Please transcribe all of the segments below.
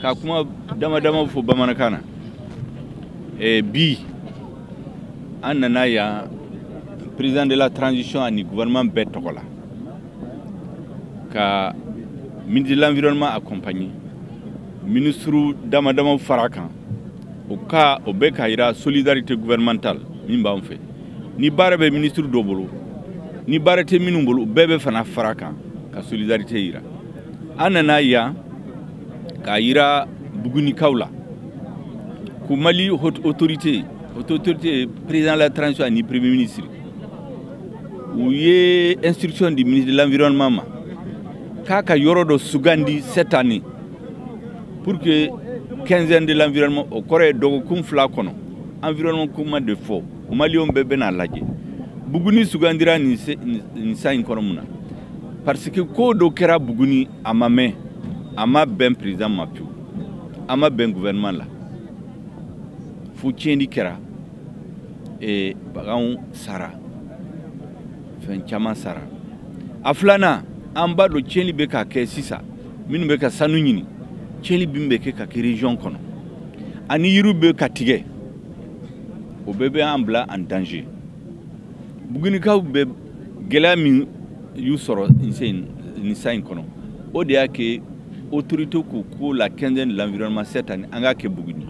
ka kuma dama-dama fo bamanankan na e, bi an nana yan président de la transition ani gouvernement bɛɛ tɔgɔ la ka ministre de l'environnement accompagner ministre dama damaw fara kan o ka o bɛ k'a yira solidarité gouvernementale min b'an fɛ ni baara bɛ ministre dɔ bolo ni baara tɛ minnu bolo bɛɛ bɛ fana fara kan ka solidarité yira an nana yan k'a yira bugunikaw la ko mali haute autorité haute autorité président de la transition ani premier ministre u ye instruction di ministre de l'environnement ma k'a ka yɔrɔ dɔ sugandi cette année pour que quinzaine de l'environnement o kɔrɔ ye dɔgɔkun fila kɔnɔ environnement kuma de fɔ maliyɛnw bɛɛ bɛna lajɛ buguni sugandira nin san in kɔnɔ mun na parce que ko dɔ kɛra buguni a ma mɛn a ma bɛn président ma pewu a ma bɛn gouvernement la fo tiɲɛni kɛra ee baganw sara fɛn caman sara a filanan an b'a dɔn tiɲɛni bɛ ka kɛ sisan minnu bɛ ka sanu ɲini tiɲɛni min bɛ kɛ ka kɛ region kɔnɔ ani yiriw bɛ ka tigɛ o bɛɛ bɛ an bila en danger bugunikaw bɛ gɛlɛya min y'u sɔrɔ nin san in kɔnɔ o de y'a kɛ autorité k'u ko la quinzaine de l'environnement cette année an k'a kɛ buguni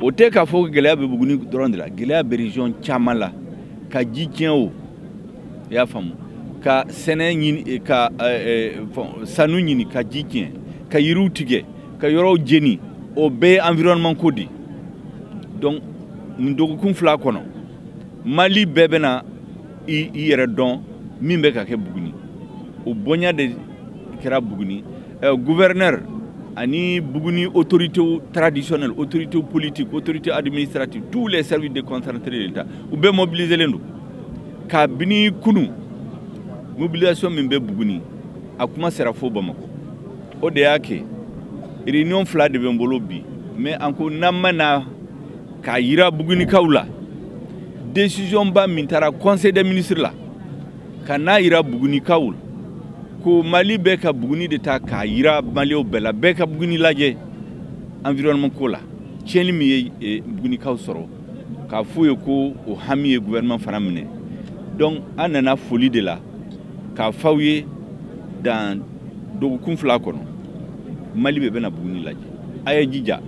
o tɛ k'a fɔ gɛlɛya bɛ buguni dɔrɔn de la gɛlɛya bɛ region caman la ka ji tiɲɛ o i y'a faamu ka sɛnɛ ɲini eh, ka eh, eh, sanu ɲini ka ji tiɲɛ ka yiriw tigɛ ka yɔrɔw jeni o bɛɛ ye environnement ko de donc nin dɔgɔkun fila kɔnɔ mali bɛɛ bɛna i yɛrɛ dɔn min bɛ ka kɛ buguni o bonya de kɛra buguni eh, gouverneur ani buguni autorité traditionnelle autorité politique autorité administrative tous les services déconcentrés de l'État u bɛɛ mobiliselen don kabini kunu mobilisation min bɛ buguni a kuma sera fo bamakɔ o de y'a kɛ réunion fila de bɛ n bolo bi mais an ko n'an ma na k'a yira bugunikaw la décision ba min tara conseil des ministres la ka n'a yira bugunikaw la ko mali bɛ ka buguni de ta k'a yira malienw bɛɛ la bɛɛ ka buguni lajɛ environnement ko la tiɲɛni min ye eh, bugunikaw sɔrɔ k'a f'u ye ko o hami ye gouvernement fana minɛ donc an nana foli de la k'a f'aw ye dans dɔgɔkun fila kɔnɔ mali bɛɛ bɛna buguni lajɛ a ye jija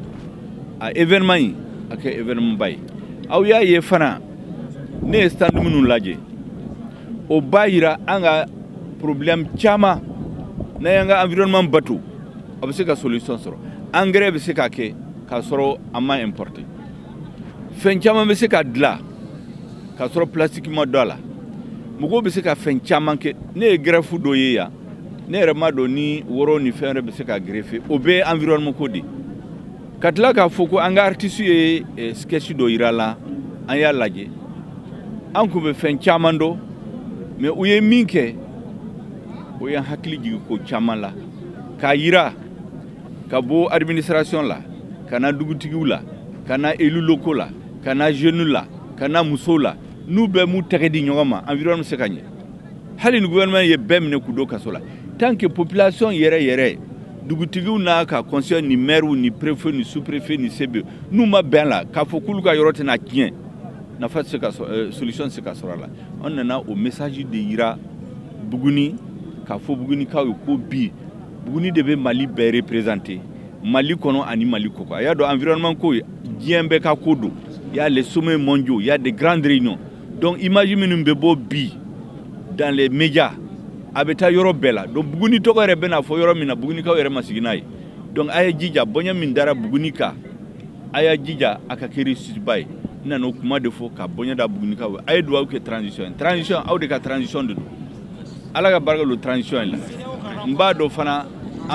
a événement in a kɛ événement ba ye aw y'a ye fana ne ye stand minnu lajɛ o b'a yira an ka problème caman n'an y'an ka environnement bato a bɛ se ka solution sɔrɔ engrais bɛ se ka kɛ k'a sɔrɔ a ma importé fɛn caman bɛ se ka dilan k'a sɔrɔ plastique ma don a la mɔgɔw bɛ se ka fɛn caman kɛ ne ye greffe dɔ ye yan ne yɛrɛ m'a dɔn ni woro ni fɛn wɛrɛ bɛ se ka greffé o bɛɛ ye environnement ko de ye ka tila k'a fɔ ko an ka artistes ye eh, sketch dɔ yira la an y'a lajɛ an tun bɛ fɛn caman dɔn mais u ye min kɛ o y'an hakili jigin ko caman la k'a yira ka bɔ administration la ka na dugutigiw la ka na élus locaux la ka na jeunes la ka na musow la n'u bɛɛ m'u tɛgɛ di ɲɔgɔn ma environnement bɛ se ka ɲɛ hali ni gouvernement ye bɛɛ minɛ k'u don kaso la tant que population yɛrɛ yɛrɛ dugutigiw n'a ka conseil ni maires ni préfet ni sous préfet ni CB n'u ma bɛn a la k'a fɔ k'olu ka yɔrɔ tɛna tiɲɛ nafa tɛ se ka euh, solution tɛ se ka sɔrɔ a la an nana o message de yira Buguni k'a fɔ Bugunikaw ye ko bi Buguni de bɛ Mali bɛɛ représenter Mali kɔnɔ ani Mali kɔkan a y'a dɔn environnement ko ye diɲɛ bɛɛ ka ko don il y a les sommets mondiaux il y a des grandes réunions donc image minnu bɛ bɔ bi dans les médias a bɛ taa yɔrɔ bɛɛ la donc buguni tɔgɔ yɛrɛ bɛna fɔ yɔrɔ min na bugunikaw yɛrɛ ma sigi n'a ye donc a y'a jija bonya min dara buguni kan a y'a jija a ka kɛ réussiteba ye n nana o kuma de fɔ ka bonya da bugunikaw ye a ye dugawu kɛ transition ye transition aw de ka transition de don ala ka barika don transition in la n b'a dɔn fana